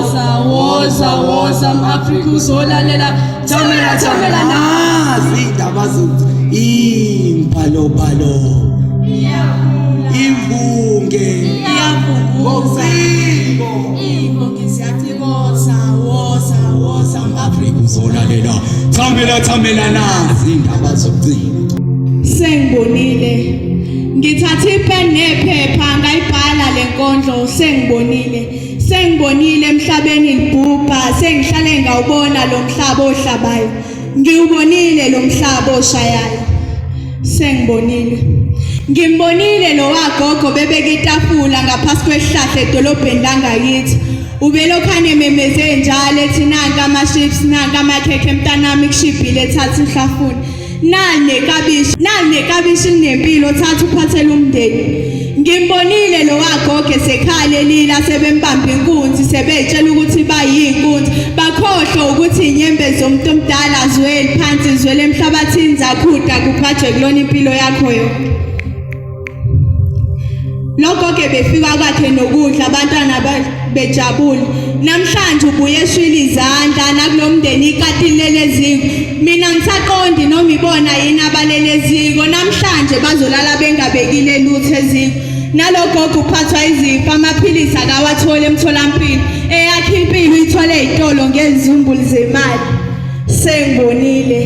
Woza woza mAfrika uzolalela thamela thamela nazi indaba zethu imbalo balo imvunge iyavunguza imvunge siyacikoza woza woza mAfrika uzolalela thamela thamela nazi indaba zocingo sengibonile ngithathe ipeni nephepha ngayibhala lenkondlo sengibonile Sengibonile emhlabeni libhubha, sengihlale ngawubona lo mhlaba ohlabayo. Ngiwubonile lo mhlaba oshayayo. Sengibonile. Ngimbonile lo wagogo bebeke itafula ngaphasi kwesihlahla edolobheni langakithi. Ubelokhane memeze njalo ethi nanka ama-chips nanka amakhekhe mntanami kushibhile thatha uhlafuna. Nane kabishi, nane kabishi nempilo thatha uphathele umndeni. Ngimbonile lo wagoge sekhale lila sebembamba inkunzi sebetshela ukuthi bayinkunzi bakhohlwa ukuthi inyembezi zomuntu omdala zweli phansi zwele emhlabathini zakhuda kuqhathwe kulona impilo yakho yonke. Lokho ke befika kwakhe nokudla abantwana bejabule. Namhlanje ubuye eshwile izandla nakulomndeni ikatileleziko. Mina ngisaqondi noma ibona yini abaleleziko. Namhlanje bazolala bengabekile lutho eziko. Nalogogo uphathwa izifo amaphilisi akawathole emtholampilo. Eyakhe impilo ithole izitolo ngezimbulu zemali. Sengibonile.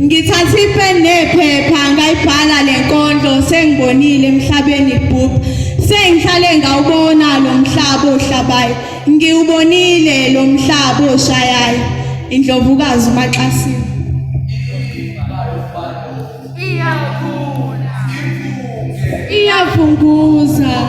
Ngithatha ipeni nephepha ngayibhala lenkondlo sengibonile emhlabeni ibhubha. Sengihlale ngawubona lo mhlaba ohlabayo. Ngiwubonile lo mhlaba oshayayo. Indlovukazi uMaxasini. Iyakhula. Iyakhula. Iyafunguza.